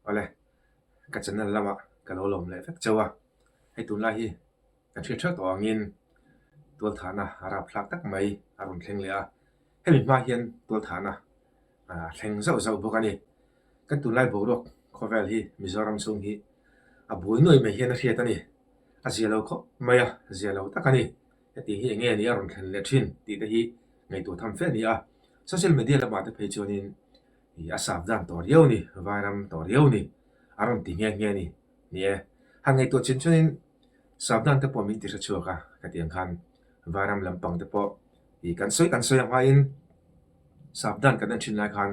Ole, ka channel lama ka lo lawm leh vek chauh a, hei tunlai hi ka hriat hreu tawh angin tualthahna a rapthlak tak mai a rawn thleng leh a, Hemi hma hian tualthahna a thleng zauh zauh bawk a ni. Kan tunlai boruak khawvel hi Mizoram chhung hi a buai nuai mai hian a hriat a ni. A zia lo khawp mai a, zia lo tak a ni. Heti hi enge nih a rawn thlen leh thin tih te hi ngaihtuah tham fe a ni a. Social media lamah te phei chuanin a savdan tawh riau a ni, vairam tawh riau a ni a rawn ti nghe nghe a ni. Ni e. Han ngaihtuah chin chuanin Sabdan te pawh min ti hre chhuak a, khatiang khan Vairam lampang te pawh i kan sawi kan sawi a hmain Sabdan kan en thin lai khan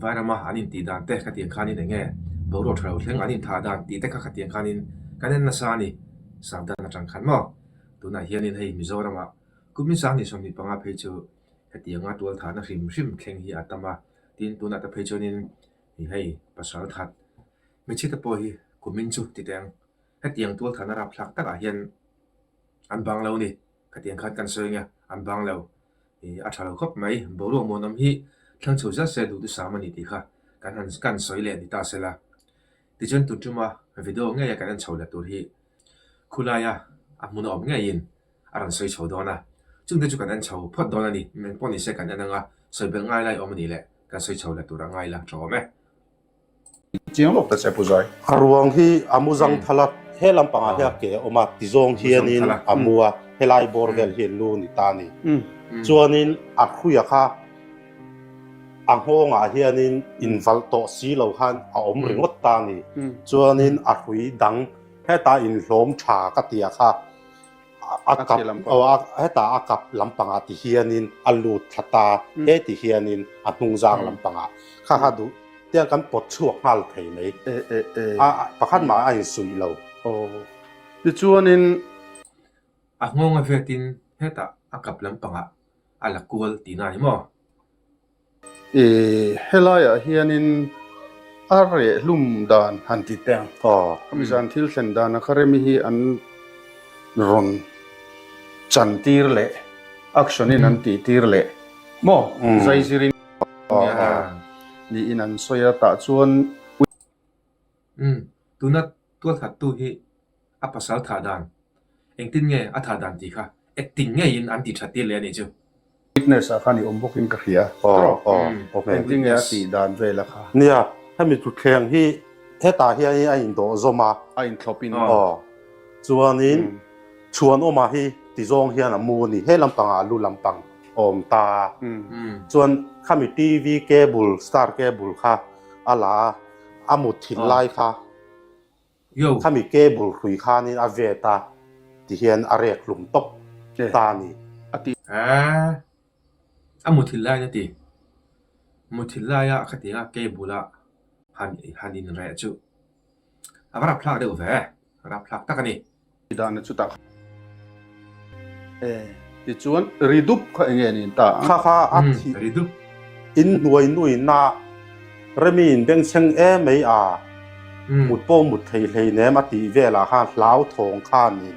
Vairama an in tih dan te khatiang khanin eng nge boruak tha lo thleng an in tha dan tih te kha khatiang khanin kan en nasa a ni Sabdan atang khan maw. Tunah hianin hei Mizorama Kuminsang ni sawmhnih panga phei chu hetianga tual thahna hrim hrim thleng hi a tam a, tin tunah te phei chuanin hei pasalthat hmeichhia te pawh hi Kumin chu titeng Hetiang tualthlahna rapthlak takah hian an bang lo ni, khatiang khan kan sawi anga, an bang lo. I, a tha lo khawp mai, boruak mawnawm hi thlang chho zia se duhtu sam a ni tih kha kan han ka han sawi leh ni ta sela, tichuan Tuntuma video ngeia kan en chho leh tur hi khulaia a hmun a awm ngeiin a rawn sawi chho dawn a, chute chu kan en chho phawt dawn a ni, engpawh ni se kan en anga sawi belh ngai lai awm a ni le, kan sawi chho leh tur a ngai la tha awm e. Chiang lawk ta che Puzai. A ruang hi a mu Zangthal a, he lam pangah hian ke a awm a ti zawng hianin a mu a, helai bawr vel hi lu a ni ta ni. Chuanin a hruia kha a nghawngah hianin invalh tawh si lo khan a awm ringawt ta ni. Chuanin a hrui dang, Heta inhlawm tha ka tia kha. a kap hetah a kap lampangah ti hianin a lut thla ta he ti hianin a hnung zang lampangah kha kha duh tiang kan pawt chhuak nghal thei mai a pakhat mah a insuih lo tichuanin a nghawng a vet in hetah a kap lampangah a la kual ti nai maw. I helaiah hianin a rehlum dan han ti teh ang. Khami zan thil thlen dana kha remi hi an rawn chan tir leh action in an tih tir leh maw zai zir in nia niin an sawi a. Tah chuan. Umm, tuna tualthattu hi a pasal tha dan, engtin nge a tha dan tih kha acting ngeiin an ti that tir leh a ni chu. Fitness-ah khan i awm bawkin ka hria. Aww, engtin nge a tih dan vel a kha. Nia, hemi thutthleng hi hetah hianin a indawhzawm a. A inthlawp in. Aww. Chuanin chhuan awmah hi tizawng hian a mu a ni, he lampangah a lu lampang awm ta a. Umm. Chuan khami TV cable, star cable kha a la a. a mut thin lai kha khami cable hlui khanin a ve ta ti hian a rek hlum tawp ta a ni. Aaa a mut thin lai na ti mut thin lai a kha tinga cable a han han in reh chu ava rap thlak deuh ve rap thlak tak a ni. Ri dan a chutah kha e tichuan ri dup kha enge niin ta ang? Kha kha a thih ri dup. In hnuai nuina Remi in bengchheng e mai a mut pawh mut thei hleinem a tih velah khan Hlauthawng khan in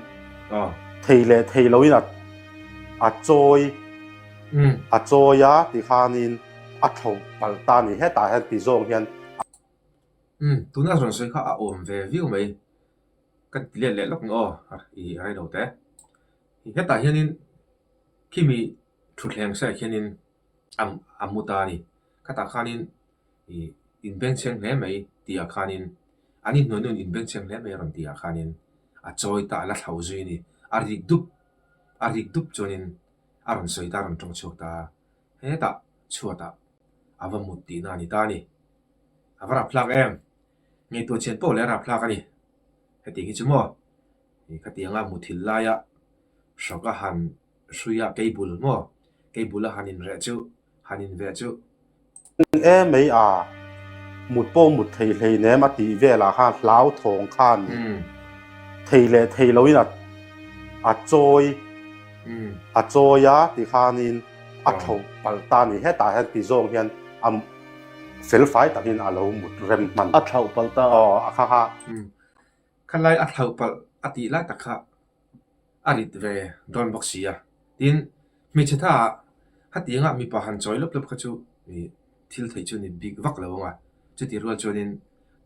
thei leh thei lo in a chawi a chawi a ti khan in a thlauh palh ta ni hetah hian ti zawng hian a. Tuna rawn sawi kha a awm ve viau mai. Ka lian leh lawk ang aw i railo te hetah hianin khimi thutthleng seh hianin am a mu ta a ni khatah khanin i inbenchhiang hle mai tih ah khanin an inhnuainu an inbenchhiang hle mai rawn tih ah khanin a chawi ta a la thlau zui a ni a rik dup a rik dup chuanin a rawn sawi ta a rawn ṭawng chhuak ta a hetah chhuatah a va mut tihna a ni ta a ni a va rap thlak em. Ngeitur chhian pawh leh rapthlak a ni. Heti hi chu maw ih khatianga muthil laia hrok a han hruia kei bul maw? Kei bul a han inreh chu, han inve chu. Eng e mei a, mut pawh mut thei hleinem a tih velah khan hlau thawng khan thei leh thei loin a a chawi a chawi a ti khanin a tho palh ta a ni hetah hian ti zawng hian a. Felfai takin a lo mut rem hman. A thlauh palh ta a. Aw, a kha kha. Kha lai a thlauh palh a tih lai tak kha a rit ve dawn bawk sia. Tin, hmeichhe tha ah kha tianga mipa han chawi lawp lawp kha chu i thil theih chu ni bik vak lo ang a. Chuti rual chuanin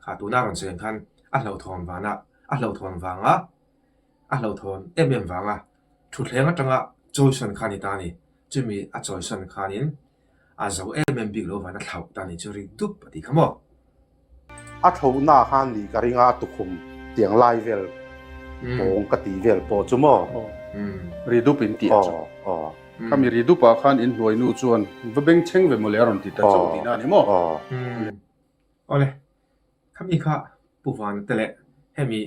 kha tuna rawn cheng khan a hlauhthawn vana, a hlauhthawn vanga, a hlauhthawn em em vanga, thuthleng atanga chawisawn khan i ta a ni. Chumi a chawisawn khanin. A zo em em bik lo vana thlauh ta ni chu ring dup a ti kha maw. A thlohna khan ni ka ring a a tukhum tiang lai vel pawng ka ti vel pawh chu maw. Ri dup in ti a chu. Kha mi ri dup ah khan in hnuai nu chuan va beng cheng ve maw le a rawn ti ta chauh tihna a ni maw. Awle. Khami kha Pu Vanute leh hemi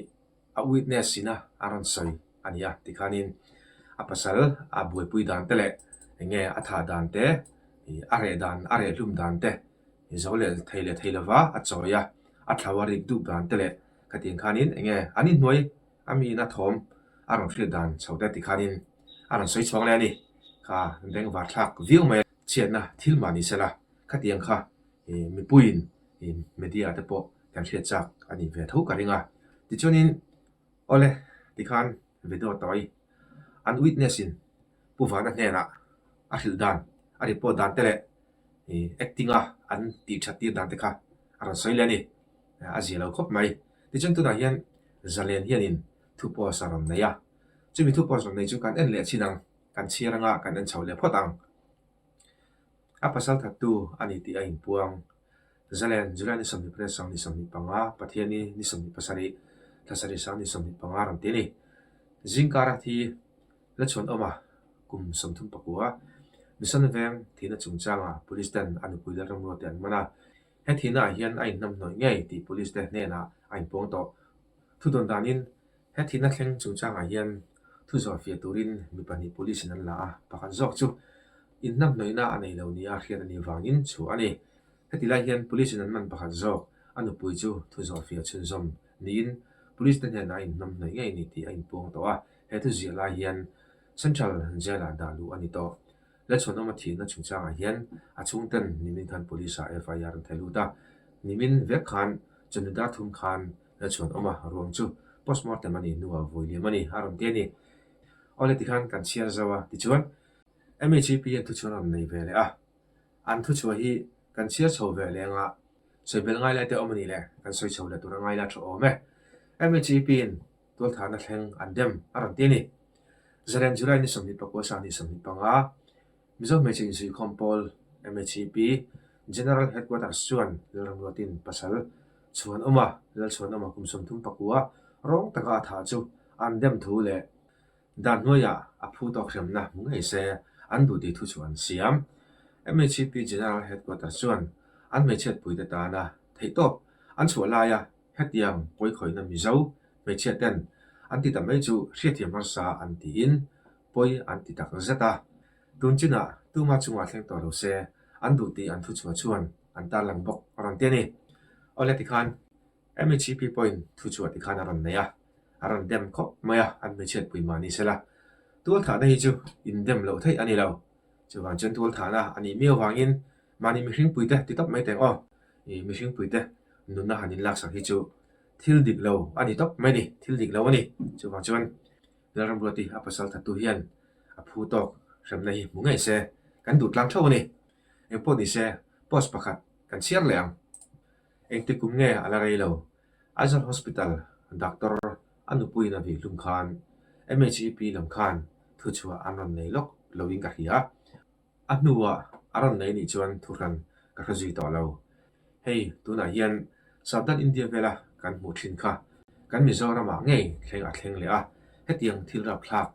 a witness ina a rawn sawi a nia tikhanin a pasal a buaipui dan te leh eng nge a thah dan te ih a reh dan a reh hlum dan te ih zo leh thei leh thei lova a chawi a a thlau a rik dup dan te leh khatiang khanin eng nge an inhnuai a miin a thawm a rawn hriat dan chho te tikhanin a rawn sawi chhuak leh a ni kha beng var thlak viau mai a chhiatna thil mahni sela. Khatiang kha i mipuiin i media te pawh kan hriatchak a nih ve tho ka ring a. Tichuanin awle tikhan Vido Tawi an witness in Pu Vana hnenah a hrilh dan, a report dan te leh i acting a an tih that tir dan te kha a rawn sawi leh a ni. A zia lo khawp mai. Tichuan tunah hian Zalen hianin thu post a rawn nei a. Chumi thu post rawn nei chu kan en leh chin ang, kan chhiar anga kan en chho leh phawt ang. A pasal thattu a ni tih a inpuang. Zalen, July ni sawmhnih parin Sang ni sawmhnih panga, Pathiani ni sawmhnih pasarih, Thlasarih Sang ni sawmhnih panga rawn ti a ni. Zingkara thi la chuan awm a, kum sawmthum pakua Mission veng thihna chungchanga Police ten a nupui leh ramrua te an man a. He thihna ah hian a inhnam hnawih ngei tih Police te hnenah a inpuang tawh. Thudawn danin. He thihna thleng chung changah hian thu zawrhfiah turin mi pahnih police-in an la a, pakhat zawk chu inhnamhnawihna a nei lo nia hriat a nih vangin chhuah a ni. Heti lai hian police-in an man pakhat zawk a nupui chu thu zawrhfiah chhunzawm niin police-te hnenah a inhnamhnawi ngei a ni tih a inpuang tawh a, he thu ziah lai hian Central Jail-ah dah luh a ni tawh. La chhun awma thinna chungchangah hian a chhungten nimin khan police-a FIR an theih lut a. Nimin vek khan chumi dar thum khan la chhun awma ruang chu postmortem a nih hnuah vawi liam a ni a rawn ti a ni. Awle tikhan kan chhiar zo a tichuan MHEP-a thu chu an rawn nei ve leh a. An thu chhuah hi kan chhiar chho ve leh anga sawi bel ngai lai te awm a ni le, kan sawi chho leh tur a ngai la tha awm e. MHEP-in Tualtharna thleng an dem a rawn ti a ni. Zaren July ni sawmhnih pakua sa ni sawmhnih panga Mizo Hmeichhe Inzui Khawm Pawl, MHCP, General Headquarters chuan rilram luatin pasal chhuanawma, lal chhuanawma kum sawmthum pakua rawng taka a thah chu an dem thu leh dan hnuaiah a phu tawk hriamna hmu ngei se an duh tih thu chu an siam. MHCP General Headquarters chuan an hmeichhiat puite tana theihtawp an chhuah laia hetiang pawikhawihna mizo hmeichhia ten an ti ta mai chu hriatthiam harsa an ti in pawi an ti tak zet a, tun chin ah tuma chungah thleng tawh lo se an duh tih an thu chhuah chuan an tarlang bawk a rawn ti a ni. Awle tikhan MECP pawhin thu chhuah tikhan a rawn nei a, a rawn dem khawp mai a an hmeichhiat pui mah ni sela tualthahna hi chu in dem loh theih a ni lo, chuvang chuan tualthahna a nih miau vangin Mahni mihring puite ti tawp mai teh aw, i mihring puite nunna han in laksang hi chu thil dik lo a ni tawp mai ni, thil dik lo a ni. Chuvang chuan Lalram Ruati a pasal thattu hian a phu tawk hremna hi hmu ngei se kan duh tlang theuh a ni. Engpawh ni se post pakhat kan chhiar leh ang. Engti kum nge a la rei lo, Aizawl Hospital Doctor a nupuiin a vih hlum khan MHEP lam khan thuchhuah an rawn nei lawk loin ka hria. A hnuah a rawn lei nih chuan thu hran ka hre zui tawh lo. Hei, tunah hian Savdan India vela kan hmuh thin kha, kan Mizoramah ngei thleng a thleng leh a, hetiang thil rapthlak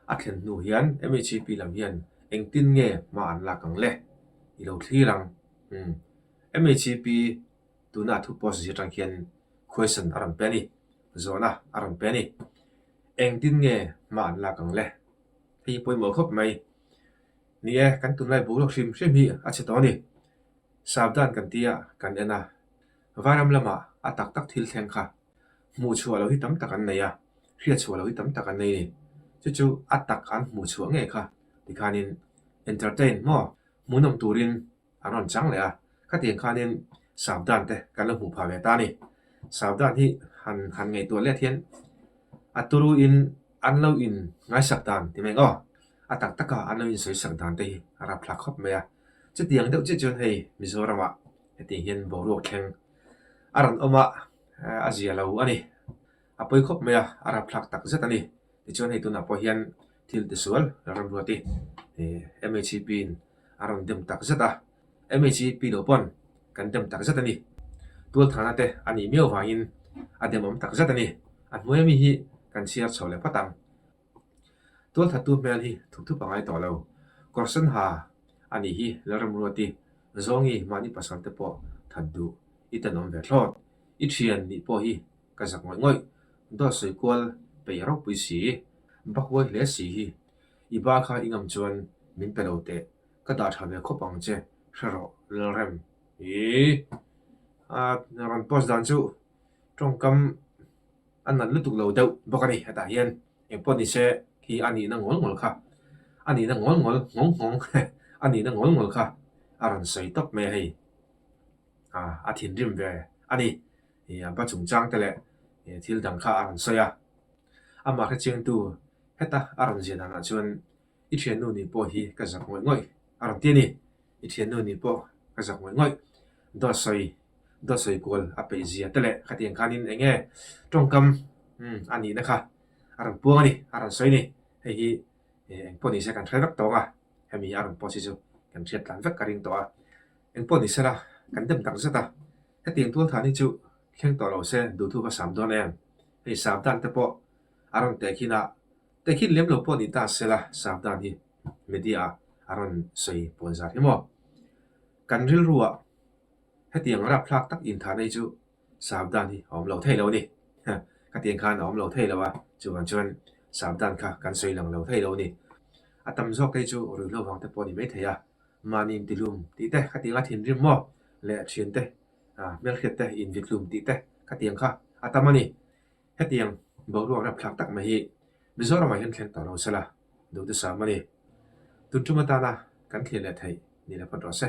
a thlen hnu hian MHAP lam hian engtin nge hma an lak ang le? I lo thlir ang. Umm. MHAP tuna a thu post zir tang hian question a rawn pe a ni, zawhna a rawn pe a ni. Engtin nge hma an lak ang le? Hei hi pawimawh khawp mai. Ni e, kan tunlai bu rawk hrim hrim hi a chhe tawh a ni. Savdan kan tia kan en a, Vairam lama a tak tak thil thleng kha hmuh chhuah lo hi tam tak an nei a, hriat chhuah lo hi tam tak an nei a ni. Chu chu a tak an hmuh chhuah ngei kha tikhanin entertain maw hmuhnawm turin A rawn chang leh a, khatiang khanin Savdhan te kan lo hmuh phah ve ta a ni. Savdhan hi han han ngaihtuah let hian a turuin an lo in ngaisak dan ti mai ang aw. A tak taka an lo insawisak dan te hi a rapthlak khawp mai a. Chutiang deuh chiah chuan hei Mizorama hetiang hian boruak thleng a rawn awm a, a zia lo a ni. A pawi khawp mai a, a rapthlak tak zet a ni. Tichuan hei tunah pawh hian thil tisual rilramruat hi MHEP in a rawn dem tak zet a. MHEP lo pawn kan dem tak zet a ni. Tualthana te a nih miau vangin a dem awm tak zet a ni. A hnuaia mi hi kan chhiar chho leh phawt ang. Tualthattu hmel hi thuk thup a ngai tawh lo. Kawr sen ha a nih hi rilramruat i zawngi mahni pasalte pawh that duh i tenawm ve thlawt. I thian nih pawh hi ka zak ngawih ngawih. Daw sawi kual peih ropui si i ba huai hle si hi. I ba kha i ngam chuan min pe lo teh, ka dah tha ve khawp ang che, hre rawh Lalrem. Ih, a rawn post dan chu tawngkam a nalh lutuk lo deuh bawk a ni, hetah hian engpawh ni se khi a nihna ngawl ngawl kha, a nihna ngawl ngawl nghawng nghawng a nihna ngawl ngawl kha a rawn sawi tawp mai hei. A thinrim ve a ni. an pa chungchang te leh thil dang kha a rawn sawi a, a mahre chengtu heta a rawn zia danah chuan i thiannu nih pawh hi ka zak ngawih ngawih a rawn ti a ni, i thiannu nih pawh ka zak ngawih ngawih, Dawtsawi Dawtsawi kual a peih zia te leh khatiang khanin eng nge tawngkam a nihna kha a rawn puang a ni, a rawn sawi a ni, hei hi eng pawh nise kan hre vek tawng a, hemi a rawn post hi chu kan hriat tlan vek ka ring tawh a, eng pawh nise la kan dem tak zet a. Hetiang tual than hi chu thleng tawh lo se duh thu va sam dawn em? Hei sam dan te pawh a rawn teh khin a, teh khin lem lo pawh ni ta se la sam dan hi media ah a rawn sawi pawn zat hi maw? Kan rilru ah hetiang rapthlak tak in than hi chu sam dan hi a awm lo thei lo ni. Ka tiang khan a awm lo thei lo a, chuvang chuan sam dan kha kan sawi lang lo thei lo ni. A tam zawk te chu ruihhlo vang te pawh ni mai thei a, Mahni intihlum tih te khatianga thinrim maw leh thian te hmelhriat te invikhlum tih te khatiang kha a tam a ni. Hetiang boruak rapthlak tak mai hi Mizoramah hian thleng tawh lo se la, duhthusam a ni. Tun tum atana kan thlir leh theih ni la phawt rawh se.